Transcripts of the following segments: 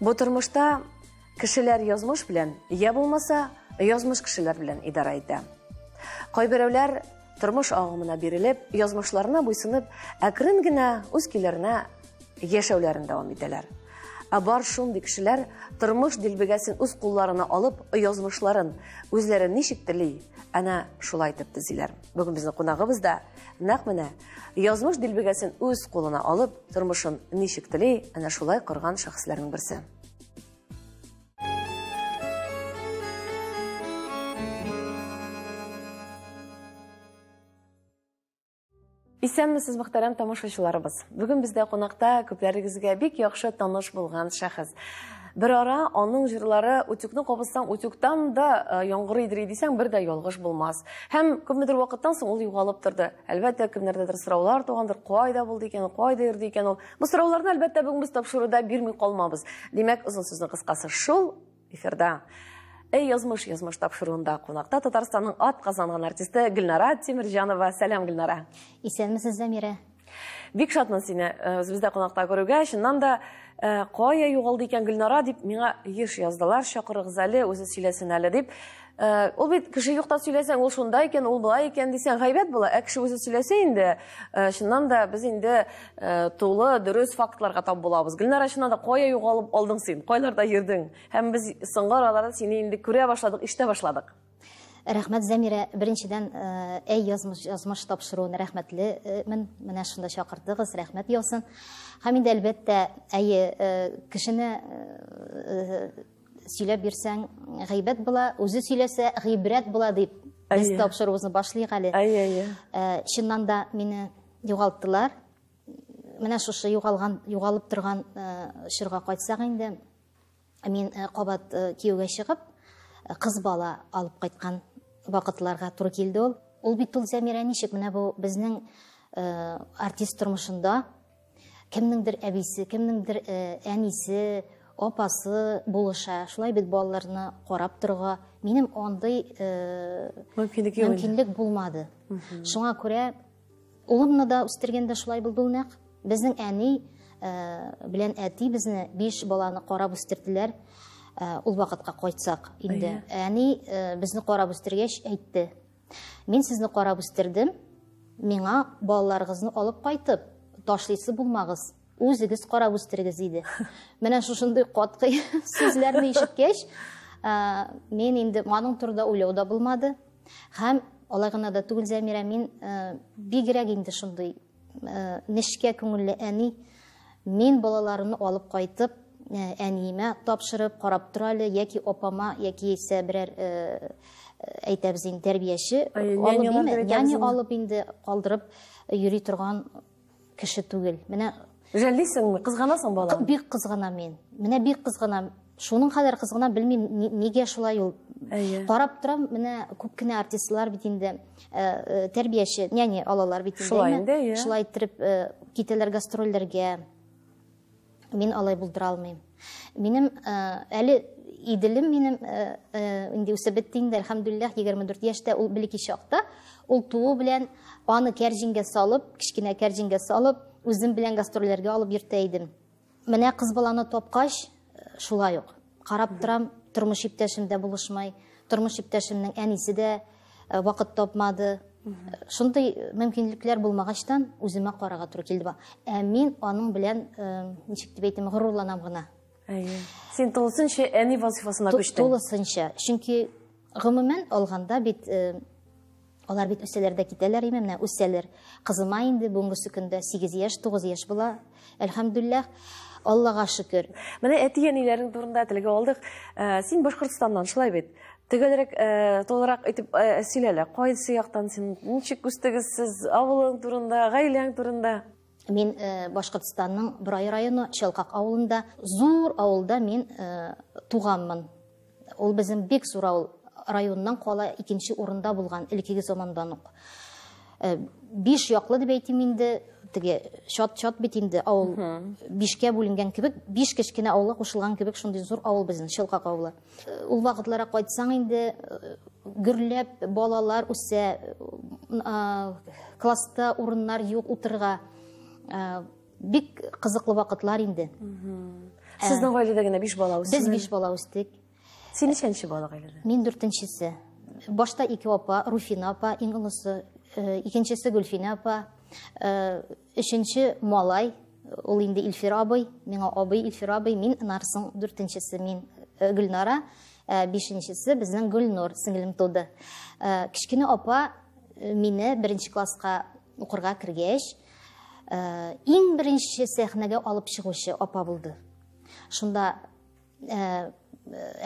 Бу тормышта кешеләр язмыш белән, я булмаса, язмыш кешеләр белән идарә итә. Кайберәүләр тормыш агымына бирелеп, язмышларына буйсынып, әкрен генә үз көйләренә яшәүләрен дәвам итәләр. Ә бар шундый кешеләр тормыш дилбегәсен үз кулларына алып, язмышларын үзләре ничек тели, әнә шулай итеп төзиләр. Бүген безнең кунагыбыз да нәкъ менә язмыш дилбегәсен үз кулына алып, тормышын ничек тели, әнә шулай корган шәхесләрнең берсе. Исәнмесез, мөхтәрәм тамашачыларыбыз. Бүген бездә кунакта күпләрегезгә бик яхшы таныш булган шәхес. Бер ара аның җырлары Утюкны кабызсаң, утюктан да э, яңгыр идри дисәң, бер дә ялгыш булмас. Һәм күпмедер вакыттан соң ул югалып торды. Әлбәттә, кемнәрдәдер сораулар тугандыр, кайда булды икән, кайда йөрде икән ул. Бу сорауларны, әлбәттә, бүген без тапшыруда бирми калмабыз. Димәк, озын сүзне кыскасы шул эфирда. Эй, язмыш, язмыш тапшыруында кунакта Татарстанның ат казанган артисты Гөлнара Тимирҗанова. Сәлам, Гөлнара. Исәнмесез, Замира. Бик шатмын сине э, үзебездә кунакта күрүгә. Чыннан да э, кая югалды икән Гөлнара дип миңа еш яздылар. Чакырыгыз әле, үзе сөйләсен әле дип. Э, ул бит кеше юкта сөйләсәң, ул шунда икән, ул былай икән дисәң, гайбәт була. Ә кеше үзе сөйләсә инде, чыннан да без инде тулы, дөрес фактларга тап булабыз. Гөлнара чыннан да кая югалып алдың син? Кайларда йөрдең? Һәм без соңгы араларда сине инде күрә башладык, ишетә башладык. Рәхмәт, Зәмирә. Беренчедән, әй язмыш, язмыш тапшыруын рәхмәтлемен. Менә шунда чакырдыгыз, рәхмәт яусын. Һәм инде әлбәттә, әйе, кешене сөйләп бирсәң, гыйбәт була, үзе сөйләсә, гыйбрәт була дип без тапшыруыбызны башлыйк әле. Әйе, әйе. Чыннан да мине югалттылар. Менә шушы югалган, югалып торган чорга кайтсак инде. Мин э, кабат э, кияүгә чыгып, э, кыз бала алып кайткан вакытларга туры килде ул. Ул бит ул Зәмирә ничек менә бу безнең артист тормышында кемнеңдер әбисе, кемнеңдер әнисе, апасы булыша. Шулай бит балаларны карап торга минем андый мөмкинлек булмады. Шуңа күрә Улымны да үстергәндә шулай булды ул нәкъ. Безнең әни белән әти безне биш баланы карап үстерделәр. Ул вакытка кайтсак инде. Әни безне карап үстергәч әйтте. Мин сезне карап үстердем. Миңа балаларыгызны алып кайтып ташлыйсы булмагыз. Үзегез карап үстерегез, диде. Менә шушындый катгый сүзләрне ишеткәч, мин инде аның турында уйлау да булмады. Һәм алай гына да түгел Зәмирә, мин бигрәк инде шундый нечкә күңелле әни. Мин балаларымны алып кайтып, әниемә тапшырып, карап тора әле, яки апама, яки исә берәр әйтәбез инде тәрбияче алып, няня алып инде калдырып йөри торган кеше түгел. Менә Жәллисеңме? Кызганасың баланы? Бик кызганам мин. Менә бик кызганам. Шуның кадәр кызганам, белмим, нигә шулай ул. Карап торам, менә күп кенә артистлар бит инде э, э, тәрбияче, няня алалар бит инде. Шулай инде, Шулай иттереп э, китәләр гастрольләргә. Мин алай булдыра алмыйм. Минем э, әле иделем минем э, э, инде үсеп бетте инде, әлхәмдүлилләх, 24 яшьтә ул белеки чакта, ул туу белән аны кәрҗингә салып, кечкенә кәрҗингә салып, үзем белән гастрольләргә алып йөртә идем. Менә кыз баланы тапкач, шулай ук. Карап торам, тормыш иптәшем дә булышмай. Тормыш иптәшемнең әнисе дә э, вакыт тапмады. Шундый э, мөмкинлекләр булмагачтан үземә карага туры килде. Ә мин аның белән э, ничек дип әйтәм, горурланам гына. Әйе. Син тулысынча әни вазифасына күчтең. Тулысынча. Чөнки гомумән алганда бит Алар бит үсәләр дә китәләр име, менә үсәләр. Кызыма инде бүгенгесе көндә 8 яшь, 9 яшь була. Әлхәмдүлилләх. Аллага шөкер. Менә әти-әниләрең турында телгә алдык. Э, син Башкортостаннан, шулай бит? Төгәлрәк, э, толырак итеп э, сөйләлә. Кайсы яктан син? Ничек үстегез сез? Авылың турында, гаиләң турында? Мин э, Башкортстанның Брай районы Челкак авылында, зур авылда мин э, туганмын. Ул безнең бик зур авыл, районнан кала икенче урында булган элеккеге замандан ук. Э, биш яклы дип әйтим инде, теге чат-чат бит инде авыл бишкә бүленгән кебек, биш кечкенә авылга кушылган кебек шундый зур авыл безнең Челкак авылы. Ул вакытларга кайтсаң инде гөрләп балалар үсә, класста урыннар юк утырга. Бик кызыклы вакытлар инде. Сезнең гаиләдә генә 5 бала үсте. Без 5 бала үстек. Син ничәнче бала гаиләдә? Мин дүртенчесе. Башта ике апа, Руфина апа, иң олысы, икенчесе Гөлфинә апа. Өченче малай, ул инде Илфир абый, миңа абый Илфир абый, мин Нарсың дүртенчесе, мин э, Гөлнара, э, бишенчесе безнең Гөлнур сеңлем туды. Э, кечкенә апа мине беренче класска укырга кергәч, иң беренче сәхнәгә алып чыгучы апа булды. Шунда Э,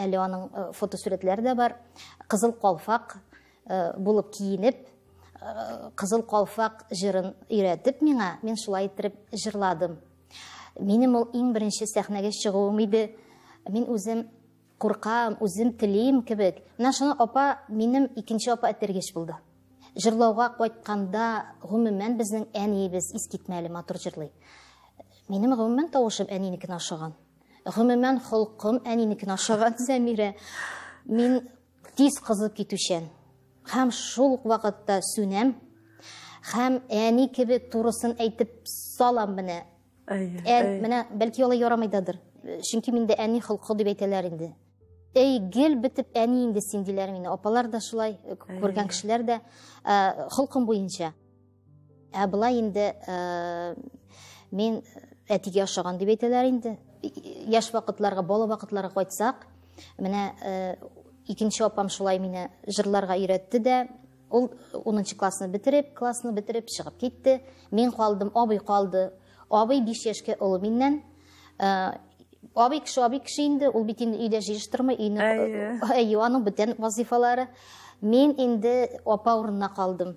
әле аның э, фотосурәтләре дә бар кызыл калфак э, булып киенеп кызыл калфак җырын өйрәтеп миңа мин шулай иттереп җырладым минем ул иң беренче сәхнәгә чыгуым иде мин үзем куркам үзем телим кебек менә шуны апа минем икенче апа этергеч булды җырлауга кайтканда гомумән безнең әниебез искитмәле матур җырлый минем гомумән тавышым әнинекенә ошаган Гомумән, холкым әнинекен ашаган Зәмирә. Мин тиз кызып китүчән. Хәм шул ук вакытта сүнәм. Хәм әни кебек турысын әйтеп салам менә. Әй, менә бәлки алай ярамыйдадыр. Чөнки миндә әни холкы дип әйтәләр инде. Әй, гел бетеп әни инде син диләр мине. Апалар да шулай, күргән кешеләр дә холкым буенча. Ә болай инде э, мин әтигә ошаган дип әйтәләр инде. Яшь вакытларга, бала вакытларга кайтсак, менә э, икенче апам шулай мине җырларга өйрәтте дә, ул 10 классны бетереп, классны бетереп чыгып китте. Мин калдым, абый калды. Абый 5 яшькә олы миннән. Э, абый кеше, абый кеше инде, ул бит инде өйдә җыештырмый, өйне. Әйе. Әйе, аның бүтән вазифалары. Мин инде апа урынына калдым.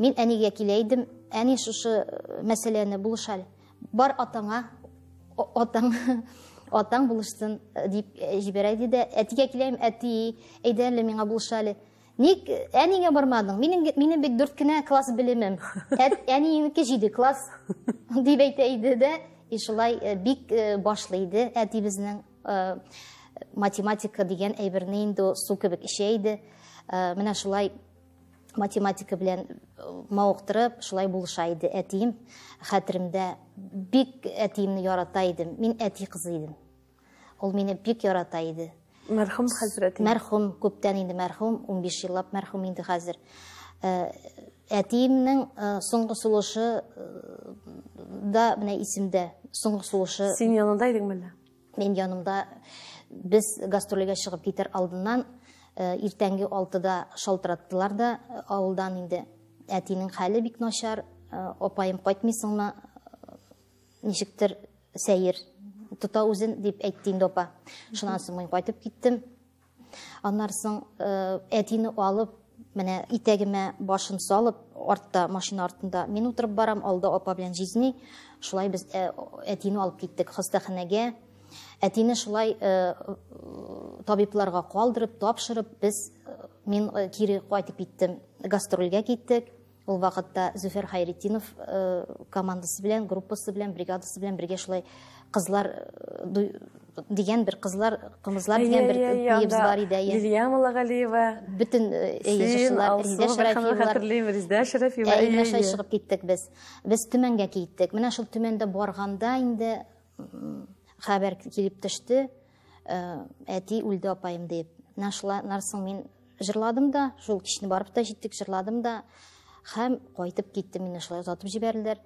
Мин әнигә килә идем, әни шушы э, мәсьәләне булышаль. Бар атаңа, атаң, атаң булышсын э, дип э, җибәрә иде дә, әтигә киләм, әти, әйдә әле миңа булышале. Ник әнигә бармадың? Минем минем бит 4 кенә класс белемем. Әниеңнеке 7 класс дип әйтә иде дә, и шулай бик башлы иде әтибезнең математика дигән әйберне инде су кебек эчә иде. Менә шулай математика белән э, мавыктырып, шулай булыша иде әтием. Хәтеремдә бик әтиемне ярата идем. Мин әти кызы идем. Ул мине бик ярата иде. Мәрхүм хәзрәт. Мәрхүм, күптән инде мәрхүм, 15 еллап мәрхүм инде хәзер. Э, әтиемнең э, соңгы сулышы да менә исемдә. Соңгы сулышы. Син янында идең Мин янымда без гастролегә чыгып китер алдыннан э, иртәнге алтыда шалтыраттылар да э, авылдан инде. Әтинең хәле бик начар, э, апаем кайтмыйсыңмы, ничектер сәер тота үзен дип әйтте инде апа. Шуннан соң мин кайтып киттем. Аннары соң э, әтине алып, менә итәгемә башын салып, артта машина артында мин утырып барам, алда апа белән җизни. Шулай без э, әтине алып киттек хастаханәгә. Әтине шулай э, табибларга калдырып, тапшырып, без мин кире кайтып киттем, гастрольгә киттек. Ул вакытта Зөфәр Хайретдинов командасы белән, группасы белән, бригадасы белән бергә шулай кызлар дигән бер кызлар кымызлар дигән бер биебез бар иде әйе лилия малагалиева бөтен җырчылар ризә шәрәфиевлар хәтерлим ризә шәрәфиева әйе шулай чыгып киттек без без төмәнгә киттек менә шул төмәндә барганда инде хәбәр килеп төште Э, әти үлде апайым дип менә шулар соң мин жырладым да шул кичне барып та җиттек жырладым да һәм кайтып киттем мине шулай озатып җибәрделәр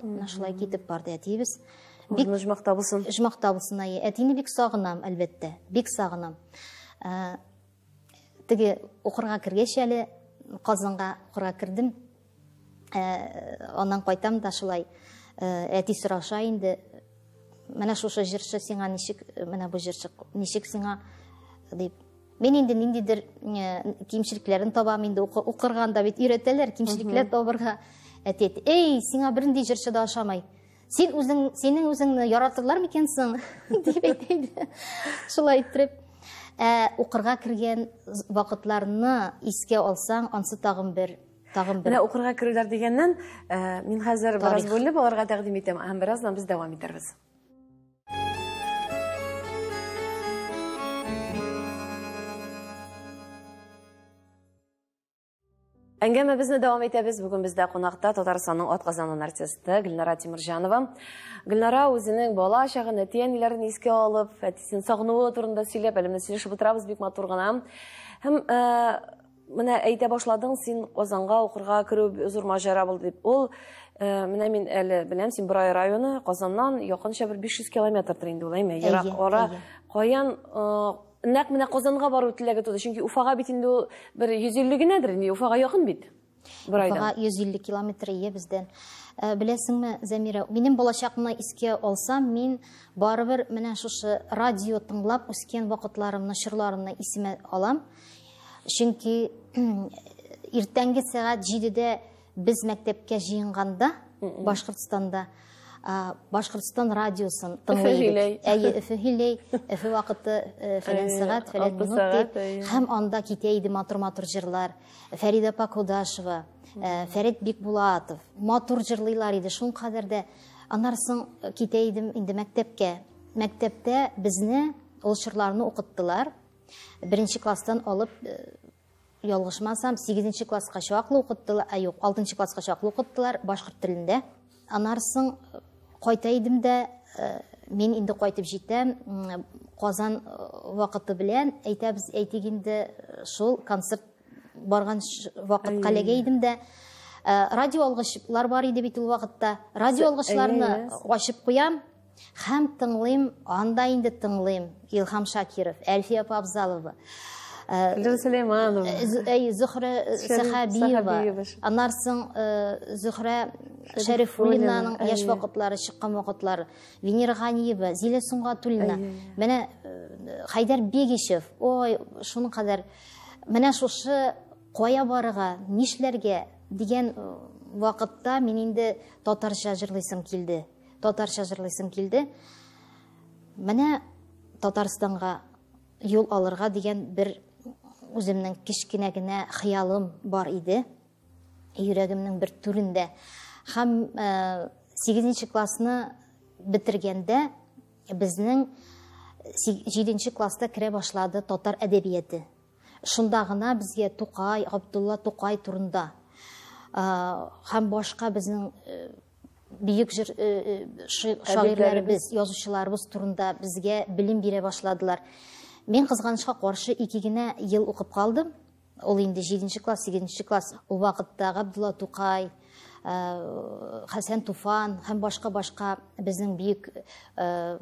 менә шулай китеп барды әтиебез бик жмакта булсын жмакта булсын әйе әтине бик сагынам әлбәттә бик сагынам э, теге укырга кергәч әле казанга укырга кердем Аннан кайтам да шулай әти сораша инде, менә шушы җырчы сиңа ничек, менә бу җырчы ничек сиңа дип. Мин инде ниндидер кимчелекләрен табам инде укырганда бит өйрәтәләр кимчелекләр табырга. Әти әйтте, "Эй, сиңа бернинди җырчы да ашамай. Син үзең, синең үзеңне яратырлар микән соң?" дип әйтте. Шулай итеп укырга кергән вакытларны искә алсаң, ансы тагын бер Тагын бер. Менә укырга керүләр дигәннән, э, мин хәзер бераз бүлеп аларга тәкъдим итәм, һәм бераздан без дәвам итәрбез. Әңгәмәбезне дәвам итәбез. Бүген бездә кунакта Татарстанның атказанган артисты Гөлнара Тимирҗанова. Гөлнара үзенең бала чагын, әти-әниләрен искә алып, әтисен сагынуы турында сөйләп, әле менә сөйләшеп утырабыз бик матур гына. Һәм э, Менә әйтә башладың, син Казанга укырга керү зур маҗара булды дип. Ул э, менә мин әле беләм, син Борай районы, Казаннан якынча бер 500 километрдыр инде ул, әйме? Ерак ара. Каян э, нәкъ менә Казанга бару теләге туды, чөнки Уфага бит инде ул бер 150 генәдер, инде Уфага якын бит. Борайдан. Уфага 150 километр ие бездән. Э, беләсеңме, Зәмирә, минем балачакны искә алсам, мин барыбер менә шушы радио тыңлап үскән вакытларымны, чорларымны исемә алам. Чөнки иртәнге сәгать җидедә без мәктәпкә җыенганда Башкортстанда Башкортстан радиосын тыңлыйбыз. Әйе, Өфе һилей, Өфе вакыты э, фәлән сәгать, фәлән минут дип. Һәм анда китә иде матур-матур җырлар. Фәрид апа Кудашева, э, Фәрид Бикбулатов. Матур җырлыйлар иде. Шул кадәр дә анарсың китә идем инде мәктәпкә. Мәктәптә безне ул чырларны укыттылар. Беренче класстан алып ялгышмасам, 8 класска чаклы укыттылар, ә юк, 6 класска чаклы укыттылар башкорт телендә. Анарсың кайта идем дә, э, мин инде кайтып җитәм, Казан э, вакыты белән әйтәбез, әйтик инде э, шул концерт барган вакыт калеге идем дә, радио алгычлар бар иде бит ул вакытта. Радио алгычларны ачып куям, Хәм тыңлыйм, анда инде тыңлыйм. Илхам Шакиров, Әлфия Павзалова. Гүл э, Сулейманова. Әй, э, Зөхрә э, Сәхәбиева. Аннар соң Зөхрә Шәрифуллинаның яшь вакытлары, чыккан вакытлары. Венера Ганиева, Зилә Сунгатуллина. Менә Хайдар Бегишев. Ой, шуның кадәр. Менә шушы кая барырга, нишләргә дигән вакытта мин инде татарча җырлыйсым килде. Татарча җырлыйсым килде. Менә Татарстанга юл алырга дигән бер үземнең кечкенә генә хыялым бар иде. Йөрәгемнең бер түрендә. Һәм 8 э, классны бетергәндә безнең 7 класста керә башлады татар әдәбияты. Шунда гына безгә Тукай, Габдулла Тукай турында һәм башка безнең бөек җыр шагыйрьләребез, язучыларыбыз турында безгә белем бирә башладылар. Мин кызганычка каршы ике генә ел укып калдым. Ул инде 7 класс, 8 класс. Ул вакытта Габдулла Тукай, Хәсән Туфан һәм башка-башка безнең бөек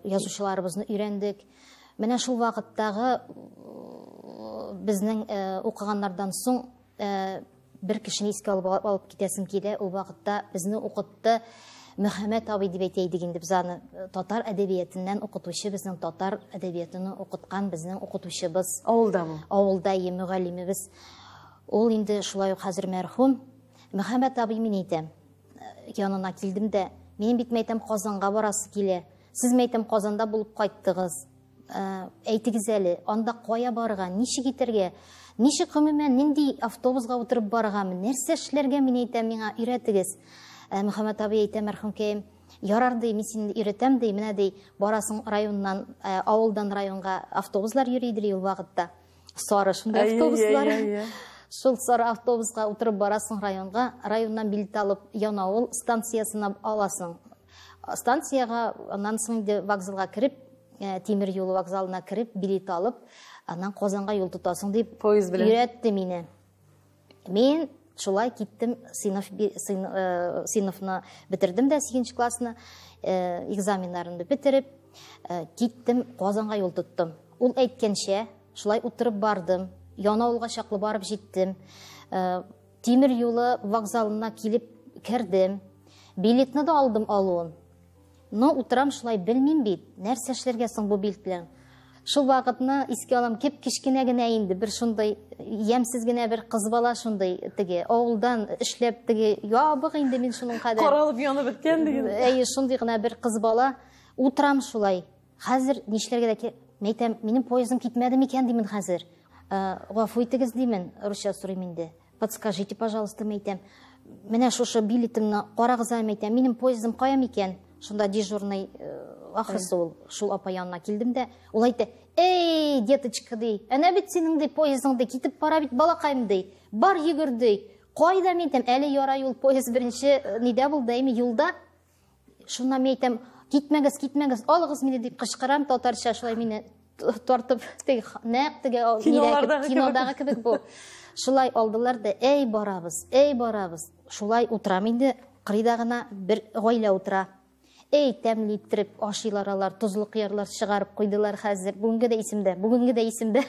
язучыларыбызны өйрәндек. Менә шул вакыттагы безнең э, укыганнардан соң э, бер кешене искә алып, алып китәсем килә. Ул вакытта безне укытты Мөхәммәт абый дип әйтә идек инде без аны. Э, татар әдәбиятыннан укытучы безнең татар әдәбиятын укыткан безнең укытучыбыз. Авылдамы? Авылда е мөгаллимебез. Ул инде шулай ук хәзер мәрхүм. Мөхәммәт абый мин әйтәм, янына килдем дә, минем бит мәйтәм Казанга барасы килә. Сез мәйтәм Казанда булып кайттыгыз. Ә, әйтегез әле, анда кая барырга, ничек итәргә, ничек гомумән нинди автобусга утырып барыргамы, нәрсә эшләргә мин әйтәм, миңа өйрәтегез. Ә, Мөхәммәт абый әйтә мәрхүмкәем, ярар ди, мин сине өйрәтәм ди, менә ди, барасың районнан, ә, авылдан районга автобуслар йөри ди ул вакытта. сары шундай автобуслар шул сары автобусқа утырып барасың районга районнан билет алып янаул станциясына аласың станцияга аннан соң инде вокзалга кереп э, тимер юл вокзалына кереп билет алып аннан казанга юл тотасың дип поезд белән өйрәтте мине Мин шулай киттем сыйныф сыйныфны э, бетердем дә сигенче классны э, экзаменнарымны бетереп э, киттем казанга юл тоттым ул әйткәнчә шулай утырып бардым янаулга чаклы барып җиттем тимер юлы вокзалына килеп кердем билетны да алдым алуын Но утырам шулай, белмим бит, нәрсә эшләргә соң бу билт белән. Шул вакытны искә алам, кеп кечкенә генә инде бер шундый ямсез генә бер кыз бала шундый теге авылдан эшләп теге ябык инде мин шуның кадәр. Каралып янып беткән диген. Әйе, шундый гына бер кыз бала утырам шулай. Хәзер нишләргә дә мәйтәм, минем поездым китмәде микән димен хәзер. Гафу итегез димен, русча сорыйм инде. Подскажите, пожалуйста, мәйтәм. Менә шушы билетымны карагыза мәйтәм. Минем поездым кая микән? Шунда дежурный э, ахрысы ул шул апа янына килдем дә, ул әйтте, "Эй, деточка ди, әнә бит синең ди поездың ди китеп бара бит балакаем ди. Бар йөгер ди. Кайда мәйтәм, әле ярай ул поезд беренче э, нидә булды, әйме юлда. Шуннан мин әйтәм, китмәгез, китмәгез, алыгыз мине дип кычкырам татарча, шулай мине тартып, теге нәкъ теге кинодагы кебек бу. Шулай алдылар да, әй барабыз, әй барабыз. Шулай утырам инде, кырыйда гына бер гаилә утыра. Әй, тәмле иттереп ашыйлар алар, тозлы кыярлар чыгарып куйдылар хәзер. Бүгенге дә исемдә, бүгенге дә исемдә.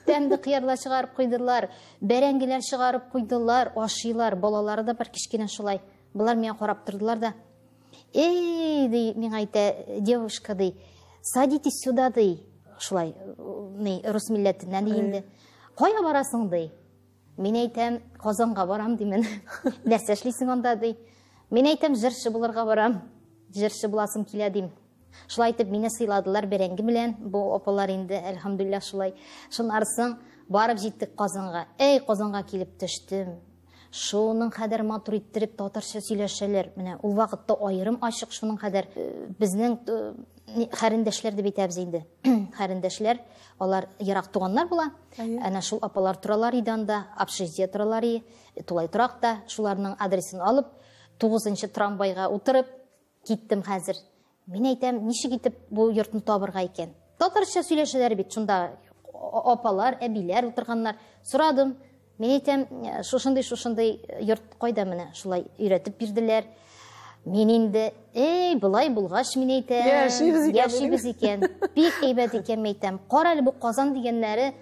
Тәмле кыярлар чыгарып куйдылар, бәрәңгеләр чыгарып куйдылар, ашыйлар, балалары да бар кичкенә шулай. Болар миңа карап тордылар да. Эй, ди, миңа әйтә, девушка ди, садитесь сюда ди. Шулай, ни, рус милләтеннән ди инде. Кая барасың ди? Мин әйтәм, Казанга барам ди мен. Нәрсә эшлисең анда ди? Мин әйтәм, җырчы булырга барам. Җырчы буласым килә дим. Шулай итеп мине сыйладылар бәрәңге белән. Бу апалар инде, әлхәмдулилла, шулай. Шуннарсың, барып җиттек Казанга. Эй, Казанга килеп төштем. Шуның кадәр матур иттереп татарча сөйләшәләр. Менә ул вакытта аерым ачык шуның кадәр э, безнең э, хәрендәшләр дип әйтәбез инде. Хәрендәшләр, алар ерак туганнар була. Әнә шул апалар торалар иде анда, общежитие торалар иде, тулай торакта, шуларның адресын алып, 9 трамвайга утырып, Киттем хәзер. Мин әйтәм, ничек итеп бу йортны табырга икән? Татарча сөйләшәләр бит шунда апалар, әбиләр утырганнар. Сорадым. Мин әйтәм, «Э, шушындый шушындый йорт кайда менә? Шулай өйрәтеп бирделәр. Мин инде, эй, былай булгач, мин әйтәм, яшибез икән. Яшибез икән. Бик әйбәт икән, мин әйтәм. Кара әле бу Казан дигәннәре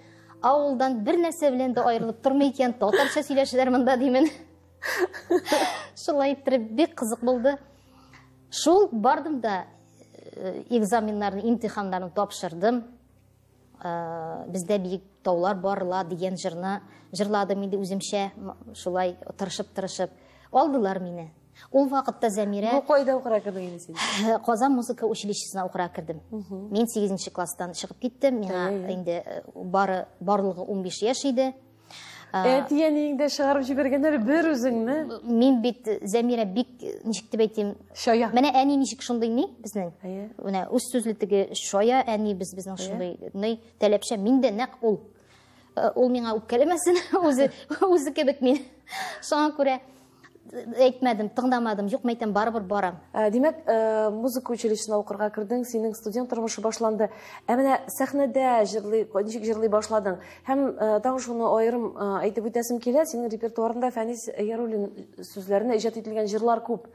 авылдан бер нәрсә белән дә аерылып тормый икән. Татарча сөйләшәләр монда димен. шулай иттереп бик кызык булды шул бардым да э, экзаменнарны имтиханнарын тапшырдым э, бездә биек таулар барла дигән жырны жырладым инде үземчә шулай тырышып тырышып алдылар мине ул вакытта зәмирә бу кайда укыра кердең инде син э, казан музыка училищесына укыра кердем мин сигезенче класстан чыгып киттем миңа инде бары барлыгы унбиш яшь иде Әтиәниең дә чыгарып җибәргәннәр бер үзеңне. Мин бит Зәмирә бик ничек дип әйтим? Шая. Менә әни ничек шундый ни безнең? Әйе. Менә үз сүзле теге шая әни без безнең шундый ни таләпчә мин дә нәкъ ул. Ул миңа үпкәләмәсен, үзе үзе кебек мин. Шуңа күрә әйтмәдем тыңдамадым юк мәйтәм барыбер барам ә, димәк ә, музыка училищесына укырга кердең синең студент тормышы башланды ә менә сәхнәдә җырлый ничек җырлый башладың һәм ә, тагын шуны аерым ә, әйтеп үтәсем килә синең репертуарында фәнис яруллин сүзләренә иҗат ителгән җырлар күп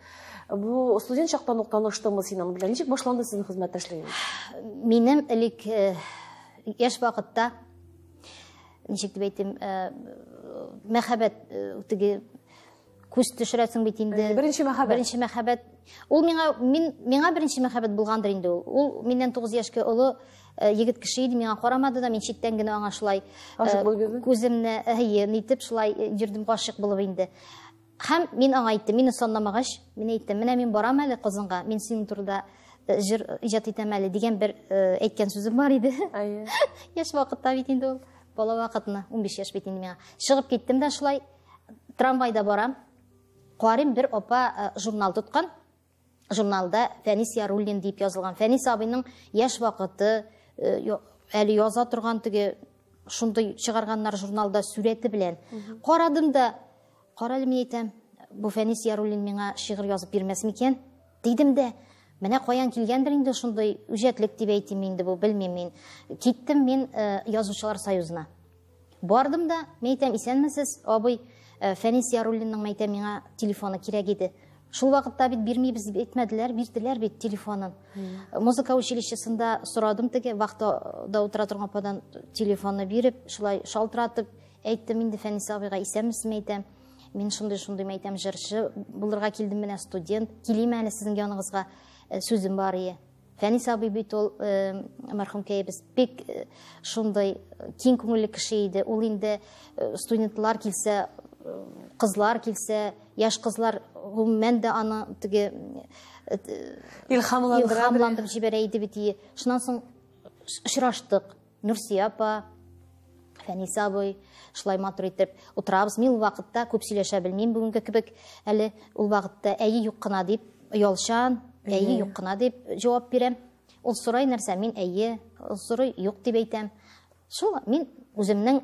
бу студент чактан ук таныштыңмы син аның белән ничек башланды сезнең хезмәттәшлегегез минем элек яшь вакытта Ничек дип әйтим, э, мәхәббәт э, теге күз төшерәсең бит инде. Э, беренче мәхәббәт. Беренче мәхәббәт. Ул миңа мин миңа беренче мәхәббәт булгандыр инде ул. Ул миннән 9 яшькә олы егет кеше иде, миңа карамады да, мин читтән генә аңа шулай күземне әйе, нитеп шулай йөрдем гашык булып инде. Һәм мин аңа әйттем, мине санламагач, мин әйттем, менә мин барам әле Казанга, мин синең турыда җыр иҗат итәм әле дигән бер әйткән сүзем бар иде. Әйе. Яшь вакытта бит инде ул, бала вакытны, 15 яшь бит инде миңа. Чыгып киттем дә шулай, трамвайда барам. Карыйм, бер апа журнал тоткан, журналда Фәнис Яруллин дип язылган. Фәнис абыйның яшь вакыты, э, әле яза торган теге шундый чыгарганнар журналда сүрәте белән. Карадым да, кара әле мин әйтәм, бу Фәнис Яруллин миңа шигырь язып бирмәс микән? Дидем дә, менә каян килгәндер инде шундый үҗәтлек дип әйтим инде бу, белмим мин. Киттем мин э, язучылар союзына. Бардым да, мин әйтәм, исәнмесез, абый, э, Фәнис Яруллинның мәйтә миңа телефоны кирәк иде. Шул вакытта бит бирмибез дип әйтмәделәр, бирделәр бит телефонын. Музыка училищесында сорадым теге вахтада утыра торган ападан телефонны биреп, шулай шалтыратып әйттем инде Фәнис абыйга, исәнмесезме әйтәм. Мин шундый шундый мәйтәм җырчы булырга килдем менә студент. Килим әле сезнең яныңызга э, сүзем бар ие. Фәнис абый бит ул мәрхүмкәебез бик шундый киң күңелле кеше иде. Ул инде студентлар килсә, кызлар килсә, яш кызлар гомумән дә аны теге илһамландырып җибәрә иде бит. Шуннан соң очраштык. Нурсия апа, Фәнис абый, шулай матур итеп утырабыз. Мин ул вакытта күп сөйләшә белмим бүгенге кебек. Әле ул вакытта әйе юк кына дип оялчан, әйе юк кына дип җавап бирәм. Ул сорай нәрсә, мин әйе, ул сорый юк дип әйтәм. Шул мин үземнең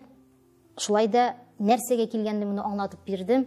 шулай да нәрсәгә килгәнлегемне аңлатып бирдем.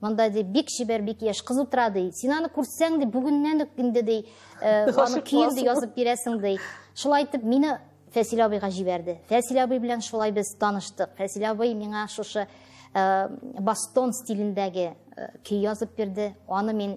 Монда ди бик чибәр, бик яшь кыз утыра ди. Син аны күрсәң ди, бүгеннән үк инде ди, э, аны көен ди язып бирәсең ди. Шулай итеп мине Фәсил абыйга җибәрде. Фәсил абый белән шулай без таныштык. Фәсил абый миңа шушы э, бастон стилендәге э, көй язып бирде. Аны мин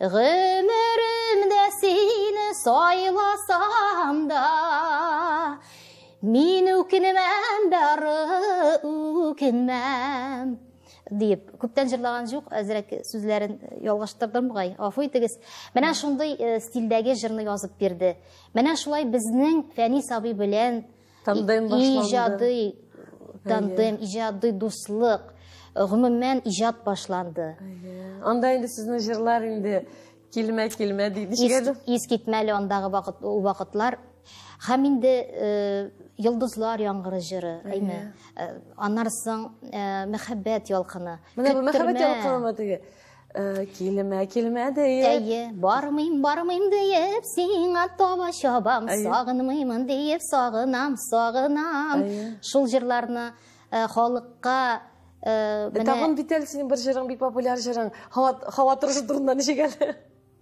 Гомеремдә сине сайласам да, Мин үкенмәм, бары үкенмәм. Дип, күптән җырлаган җук, әзрәк сүзләрен э, ялгыштырдым бугай. Афу итегез. Менә шундый э, стильдәге җырны язып бирде. Менә шулай безнең Фәни сабый белән Тандем башланды. Иҗади тандем, иҗади дуслык, гомумән иҗат башланды. Анда инде сезнең җырлар инде килмә килмә диде. Ис китмәле андагы вакыт вакытлар. Һәм инде йолдызлар яңгыры җыры, әйме. Аннары соң мәхәббәт ялкыны. Менә мәхәббәт ялкынымы теге? Э, килмә, килмә диеп. Әйе, бармыйм, бармыйм диеп, сиңа таба чабам, сагынмыймын диеп, сагынам, сагынам. Шул җырларны э, халыкка э, менә Тагын бит әле синең бер җырың бик популяр җырың. Һава торышы турында ничек әле?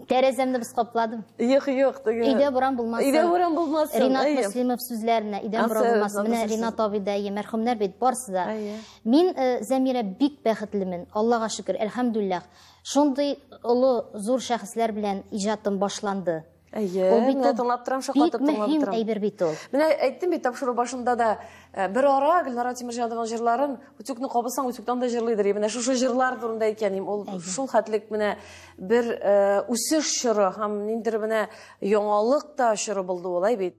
Тәрәзәмне без капладым. Юк, юк, түгел. Өйдә буран булмасын. Өйдә буран булмасын. Ринат әйе. Муслимов сүзләренә өйдә буран булмасын. Менә Ринат абый да, әйе, мәрхүмнәр бит барсы да. Мин э, Зәмирә бик бәхетлемен. Аллага шөкер, әлхәмдүлиллах. Шундый олы, зур шәхесләр белән иҗатым башланды. Әйе, ул бит менә тыңлап торам, шаккатып тыңлап торам. Бик мөһим әйбер бит ул. Менә әйттем бит тапшыру башында да, э, бер ара Гөлнара Тимерҗанованың җырларын Үтүкне кабысаң, үтүктән дә җырлыйдыр. Менә шушы җырлар турында әйткәнем, ул шул хәтлек менә бер э, үсеш чоры һәм ниндер менә яңалык та чоры булды улай бит.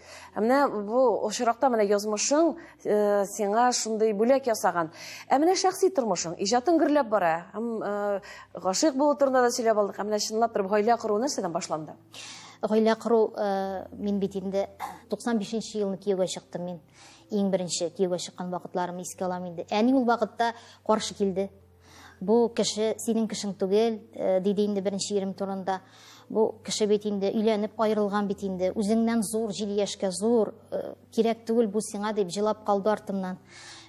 Ә менә бу очракта менә язмышың э, сиңа шундый бүләк ясаган. Ә менә шәхси тормышың, иҗатың гөрләп бара. Һәм э, гашыйк булу турында да сөйләп алдык. Ә менә чынлап торып гаилә кору нәрсәдән башланды? Гаилә кору э, мин бит инде 95 нче елны кияүгә чыктым мин. Иң беренче кияүгә чыккан вакытларымны искә алам инде. Әни ул вакытта каршы килде. Бу кеше синең кешең түгел, э, диде инде беренче ирем турында. Бу кеше бит инде өйләнеп аерылган бит инде. Үзеңнән зур, җил яшькә зур, э, кирәк түгел бу сиңа дип җылап калды артымнан.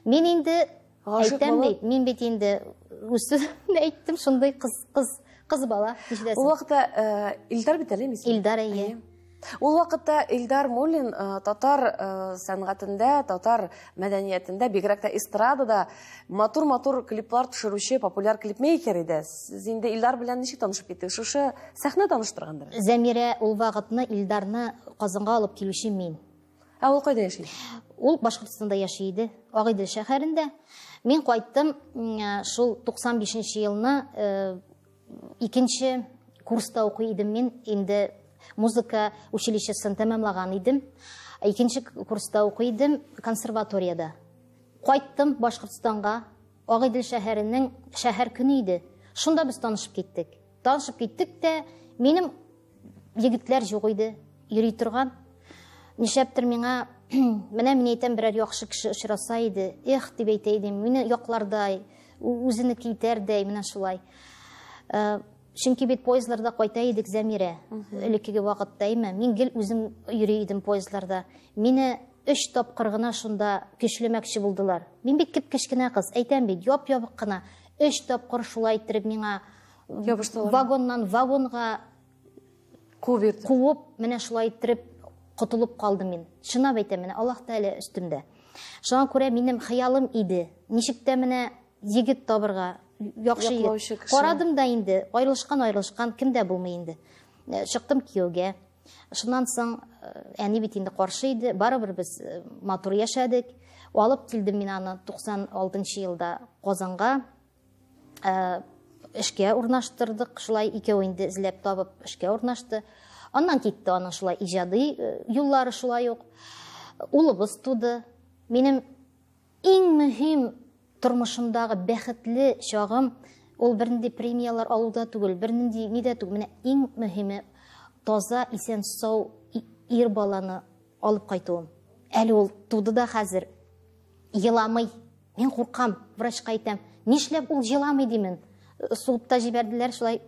Мин инде әйтәм бит, мин бит инде үз сүземне әйттем, шундый кыз, кыз, кыз бала. Ул вакытта э, Илдар бит әле, Илдар, әйе. Ул вакытта Илдар Муллин э, татар э, сәнгатендә, татар мәдәниятендә, бигрәк тә эстрадада матур-матур клиплар төшерүче популяр клипмейкер иде. Сез инде Илдар белән ничек танышып киттегез? Шушы сәхнә таныштыргандыр? Зәмирә ул вакытны Илдарны Казанга алып килүче мин. Ә ул кайда яши? Ул Башкортстанда яши иде, Агыйдел шәһәрендә. Мин кайттым э, шул 95 елны Икенче курста укый идем мин, инде музыка училищесын тәмамлаган идем. Икенче курста укый идем консерваториядә. Кайттым Башкортстанга, Агыйдел шәһәренең шәһәр көне иде. Шунда без танышып киттек. Танышып киттек тә, минем Егетләр юк иде, йөри торган. Нишләптер миңа менә мин әйтәм берәр яхшы кеше очраса иде, эх дип әйтә идем, мине яклардай, үзенеке итәрдәй, менә шулай. Э, чөнки бит поездларда кайта идек Зәмирә, элеккеге вакытта име, мин гел үзем йөри идем поездларда. Мине өч тапкыр гына шунда көчлемәкче булдылар. Мин бик кеп кечкенә кыз, әйтәм бит, яп-ябык кына. Өч тапкыр шулай иттереп миңа вагоннан вагонга куып йөртеп куып менә шулай иттереп котылып калдым мин чынлап әйтәм менә аллах тәгалә өстемдә шуңа күрә минем хыялым иде ничек тә менә егет табырга яхшы егет карадым да инде аерылышкан аерылышкан кем дә булмый инде э, чыктым кияүгә шуннан соң э, әни бит инде каршы иде барыбер без э, матур яшәдек алып килдем мин аны 96 елда казанга Э, эшкә урнаштырдык, шулай икәү инде эзләп табып эшкә урнашты. Аннан китте аның шулай иҗади э, юллары шулай ук. Улыбыз туды. Минем иң мөһим тормышымдагы бәхетле чагым ул бернинди премиялар алуда түгел, бернинди нидә түгел. Менә иң мөһиме таза, исән сау ир баланы алып кайтуым. Әле ул туды да хәзер еламый, Мин куркам, врачка әйтәм. Нишләп ул җыламый димен? Суып та җибәрделәр шулай.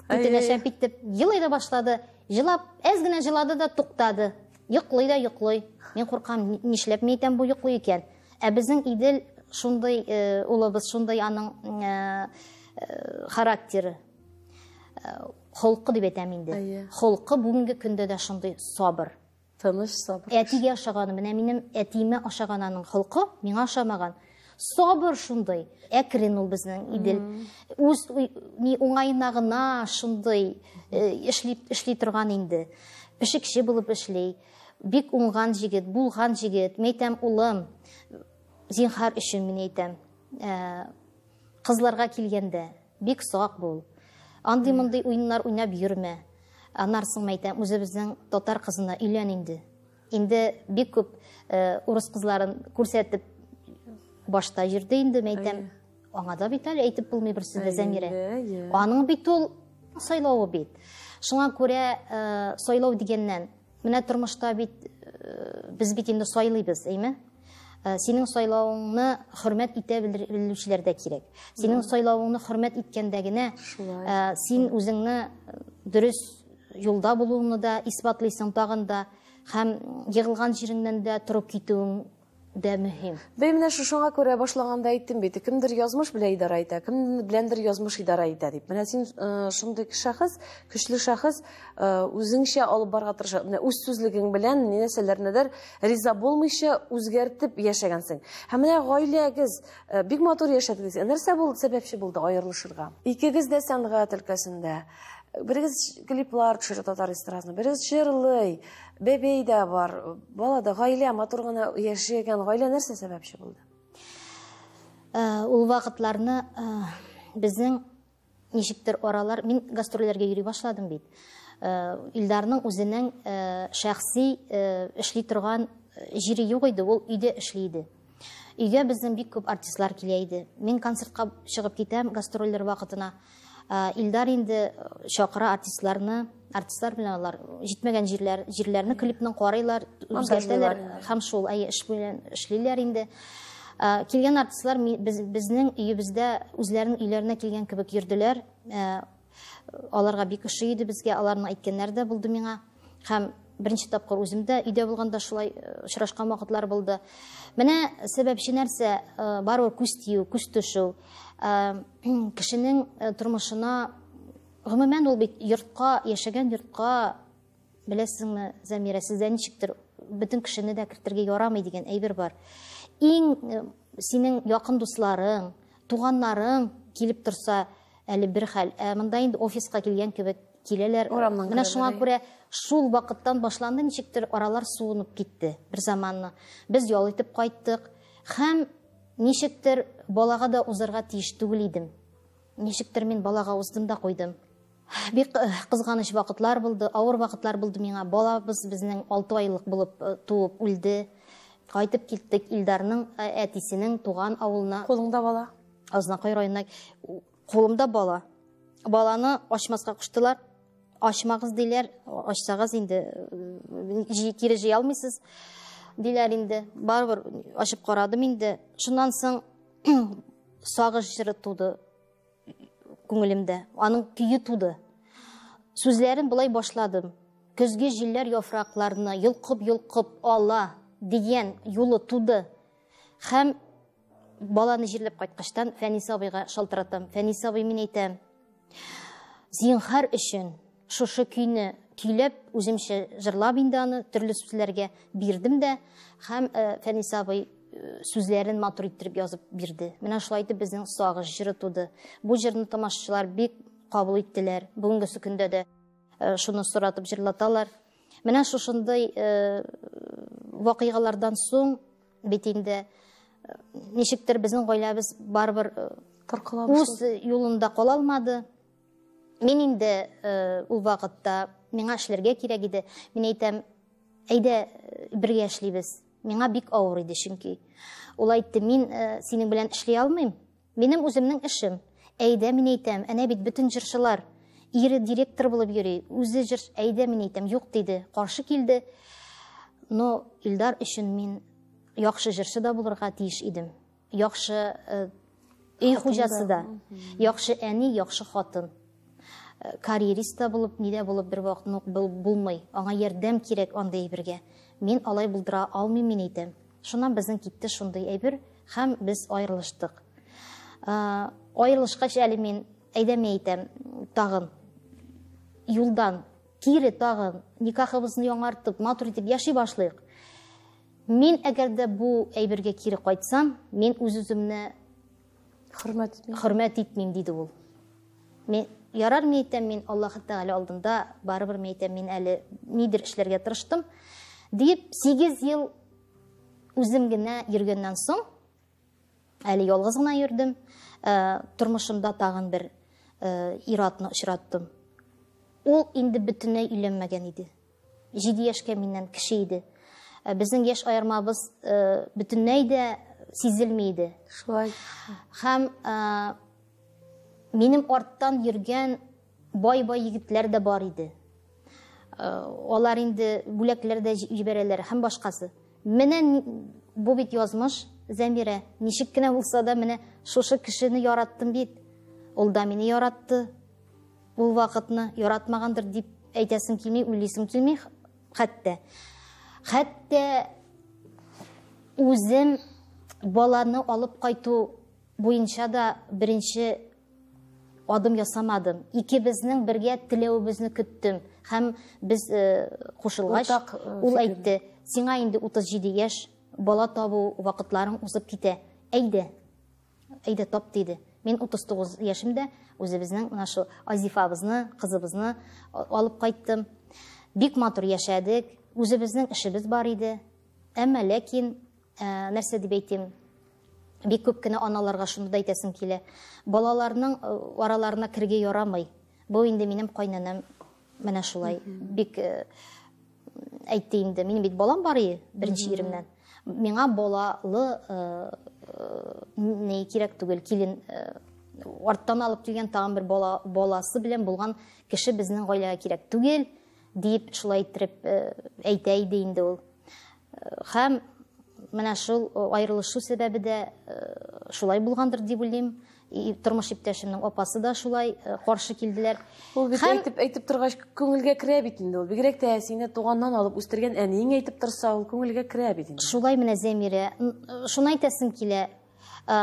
Үтенәчәп итеп. Елый да башлады. Җылап, әз генә җылады да туктады. Йоклый да йоклый. Мин куркам, нишләп мин әйтәм бу йоклый икән? Ә безнең Идел шундый э, улыбыз, шундый аның э, э, характеры. Холкы дип әйтәм инде. Холкы бүгенге көндә дә шундый сабыр. Тыныч сабыр. Әтигә ошаганы, менә минем әтиемә ошаган аның холкы, миңа ошамаган. Сабыр шундый, әкрен ул безнең Идел. Үз ни уңаена гына шундый э, эшли эшли торган инде. Пешекче булып эшли. Бик уңган җигет, булган җигет. Мәйтәм, улым, зинхар өчен мин әйтәм. Э, кызларга килгәндә, Бик сак бул. Андый мондый уеннар уйнап йөрмә. Анарсың мәйтәм, үзебезнең татар кызына өйлән инде. Инде бик күп э, урыс кызларын күрсәтеп башта йөрде инде мәйтәм. Аңа да бит әле әйтеп булмый бер сүз дә Зәмирә. Аның бит ул сайлавы бит. Шуңа күрә э, сайлау дигәннән Менә тормышта бит э, без бит инде сайлыйбыз, әйме? Э, синең сайлавыңны хөрмәт итә белүчеләр дә кирәк. Синең сайлавыңны хөрмәт иткәндә генә э, син үзеңне дөрес юлда булуыңны да исбатлыйсың тагын да һәм егылган җиреңнән дә торып китүең дә мөһим. Бәй, менә шушыңа күрә башлаганда әйттем бит, кемдер язмыш белән идарә итә, кем беләндер язмыш идарә итә дип. Менә син э, шундый шәхес, көчле шәхес, э, үзеңчә алып барга тырыша. Менә үз сүзлегең белән ни нәрсәләрнедер риза булмыйча үзгәртеп яшәгәнсең. Һәм менә гаиләгез э, бик матур яшәдегез. Нәрсә булды, сәбәпче булды аерылышырга? Икегез дә сәнгать өлкәсендә. Берегез клиплар төшерә татар эстрадасына, берегез җырлый. Бәбәй дә бар, бала да, гаилә, матур гына яшәгән гаилә нәрсә сәбәпче булды? Э, ул вакытларны э, безнең ничектер аралар, мин гастрольләргә йөри башладым бит. Э, Илдарның үзенең шәхси эшли торган җире юк иде, ул өйдә эшли иде. Өйгә безнең бик күп артистлар килә иде. Мин концертка чыгып китәм гастрольлер вакытына. Илдар инде чакыра артистларны, артистлар белән алар җитмәгән җирләр, җирләрне клипның карыйлар, үзгәртәләр һәм шул әйе эш белән эшлиләр инде. Килгән артистлар безнең өебездә үзләренең өйләренә килгән кебек йөрделәр. Аларга бик ошый иде безгә, аларның әйткәннәре дә булды миңа. Һәм беренче тапкыр үзем дә өйдә булганда шулай э, очрашкан вакытлар булды. Менә сәбәпче нәрсә, э, барыбер күз тию, күз төшү. Э, кешенең тормышына гомумән ул бит йортка, яшәгән йортка Беләсезме, Замира, сездә ничектер бөтен кешене дә кертергә ярамый дигән әйбер бар. Иң э, синең якын дусларың, туганнарың килеп торса, әле бер хәл. Ә монда инде офиска килгән кебек киләләр. Урамнан Менә шуңа күрә шул вакыттан башланды ничектер аралар суынып китте бер заманны. Без ял итеп кайттык һәм ничектер балага да узарга тиеш түгел идем. Ничектер мин балага уздым да куйдым. Бик кызганыч вакытлар булды, авыр вакытлар булды миңа. Балабыз безнең алты айлык булып туып үлде. Кайтып киттек Илдарның әтисенең туган авылына. Кулыңда бала? Азнакай районына. Кулымда бала. Баланы ачмаска куштылар. Ачмагыз диләр, ачсагыз инде кире җыя алмыйсыз диләр инде. Барыбер ачып карадым инде. Шуннан соң сагыш җыры туды. күңелемдә. Аның көе туды. Сүзләрен болай башладым. Көзге җилләр яфракларны йолкып-йолкып ала дигән юлы туды. Хәм баланы җирләп кайткачтан Фәнис абыйга шалтыратам. Фәнис абый, мин әйтәм, зинхар өчен Шушы көйне көйләп, үземчә җырлап инде аны, төрле сүзләргә бирдем дә, һәм Фәнис абый сүзләрен матур иттереп язып бирде. Менә шулай итеп безнең сагыш җыры туды. Бу җырны тамашачылар бик кабул иттеләр. Бүгенгесе көндә дә шуны соратып җырлаталар. Менә шушындый вакыйгалардан соң бит инде ничектер безнең гаиләбез барыбер үз юлында кала алмады. Мин инде э, ул вакытта миңа эшләргә кирәк иде. Мин әйтәм, әйдә э, бергә эшлибез. Миңа бик авыр иде чөнки. Ул әйтте, мин э, синең белән эшли алмыйм. Минем үземнең эшем. Әйдә, мин әйтәм, әнә бит бөтен җырчылар. Ире директор булып йөри, үзе җыр, әйдә, мин әйтәм, юк диде. Каршы килде. Но Илдар өчен мин яхшы җырчы да булырга тиеш идем. Яхшы э, өй хуҗасы да, яхшы әни, яхшы хатын. Э, карьерист та булып, ни дә булып бер вакыт нук булмый. Аңа ярдәм кирәк андый әйбергә. Мин алай булдыра алмыйм мин әйтәм. Шуннан безнең китте шундый әйбер һәм без аерылыштык. Э, аерылышкач әле мин әйдәме әйтәм, тагын юлдан кире тагын никахыбызны яңартып, матур итеп яши башлыйк. Мин әгәр дә бу әйбергә кире кайтсам, мин үз-үземне хөрмәт итмим. Хөрмәт итмим, диде ул. Мин ярар мин әйтәм, мин Аллаһ Тәгалә алдында барыбер мин әйтәм, мин әле нидер эшләргә тырыштым, дип 8 ел үзем генә йөргәннән соң, әле ялгыз гына йөрдем, э, тормышымда тагын бер э, иратны очраттым. Ул инде бөтенләй өйләнмәгән иде. Җиде яшькә миннән кеше иде. Э, безнең яшь аермабыз э, бөтенләй дә сизелми иде. Шулай. Һәм э, минем арттан йөргән бай-бай егетләр дә бар иде. Алар инде бүләкләр дә җибәрәләр һәм башкасы. Менә бу бит язмыш, Зәмирә. Ничек кенә булса да, менә шушы кешене яраттым бит. Ул да мине яратты. Ул вакытны яратмагандыр дип әйтәсем килми, уйлыйсым килми хәтта. Хәтта үзем баланы алып кайту буенча да беренче адым ясамадым. Икебезнең бергә теләвебезне көттем һәм без э, кушылгач э, ул әйтте, сиңа инде 37 яшь, бала табу вакытларың узып китә. Әйдә, Әйдә, тап, диде. Мин 39 яшемдә үзебезнең менә шул Азифабызны, кызыбызны алып кайттым. Бик матур яшәдек, үзебезнең эшебез бар иде. Әмма ләкин ә, нәрсә дип әйтим, бик күп кенә аналарга шуны да әйтәсем килә. Балаларның араларына кергә ярамый. Бу инде минем кайнанам Менә шулай бик э, әйтте инде. Минем бит балам бар иде беренче иремнән. Миңа балалы э, э, не кирәк түгел, килен арттан алып килгән тагын бер бала, баласы белән булган кеше безнең гаиләгә кирәк түгел, дип шулай иттереп әйтә иде инде ул. Хәм менә шул аерылышу сәбәбе дә шулай булгандыр дип уйлыйм. тормыш иптәшемнең апасы да шулай э, каршы килделәр ул бит Хәм... әйтеп әйтеп торгач күңелгә керә бит инде ул бигрәк тә сине туганнан алып үстергән әниең әйтеп торса ул күңелгә керә бит инде шулай менә зәмирә э, шуны әйтәсем килә э,